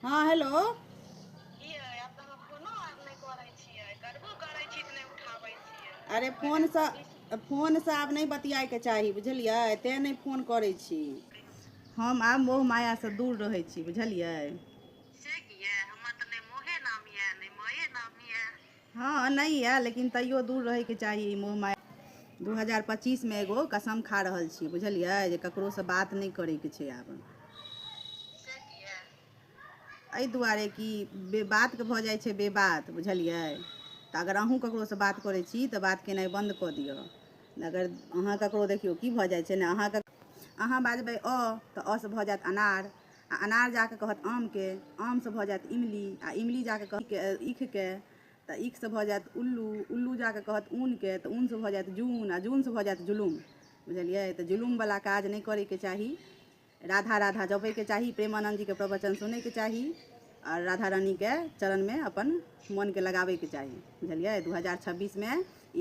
हँ हेलो अरे फोनसँ फोनसँ आब नहि बतियाइके चाही बुझलियै तैँ नहि फोन करै छी हम आब मोह मायासँ दूर रहै छी बुझलियै हँ नहि यऽ लेकिन तैयो दूर रहैके चाही ई मोह माया दू हजार पच्चीसमे एगो कसम खा रहल छी बुझलियै जे ककरोसँ बात नहि करैके छै आब एहि दुआरे कि बेबातके भऽ जाइ छै बेबात बुझलियै तऽ अगर अहूँ ककरोसँ बात करै छी तऽ बात केनाइ बन्द कऽ दिअ अगर अहाँ ककरो देखियौ की भऽ जाइ छै ने अहाँके अहाँ बाजबै अ तऽ असँ भऽ जायत अनार आ अनार जाके कहत आम के आम से भऽ जायत इमली आ इमली जाके कहत ईख के तऽ ईख से भऽ जायत उल्लू उल्लू जाके कहत ऊन के तऽ ऊन से भऽ जायत जून आ जून से भऽ जायत जुलुम बुझलियै तऽ जुलुम वाला काज नहि करे के चाही राधा राधा जपे के चाही प्रेमानंद जी के प्रवचन सुने के चाही आ राधा रानी के चरण में अपन मन के लगाबे के चाही बुझलियै दू हजार छब्बीस में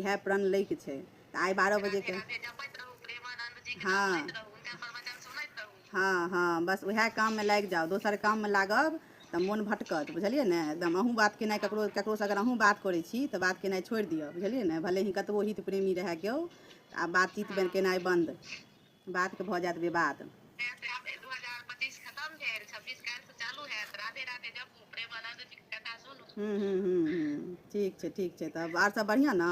इएह प्रण लै के छै तऽ आइ बारह बजे के राधे जपैत रहू प्रेमानंद जी के हाँ। सुनैत रहू हुनकर प्रवचन सुनैत रहू हँ हँ बस उएह काममे लागि जाउ दोसर काममे लागब तऽ मोन भटकत बुझलियै ने एकदम अहूँ बात केनाइ ककरो ककरोसँ अगर अहूँ बात करै छी तऽ बात केनाइ छोड़ि दिअ बुझलियै ने भले ही कतबो हित प्रेमी रहए केओ तऽ आब बातचीत बे- केनाइ बन्द बातके भऽ जायत विवाद से से आब 2025 खतम भेल 26 काल्हि से चालू हैत राधे राधे जपू प्रेमानंद जी के कथा सुनू हूँ हूँ हूँ हूँ ठीक छै ठीक छै तब आर सब बढ़िआँ ने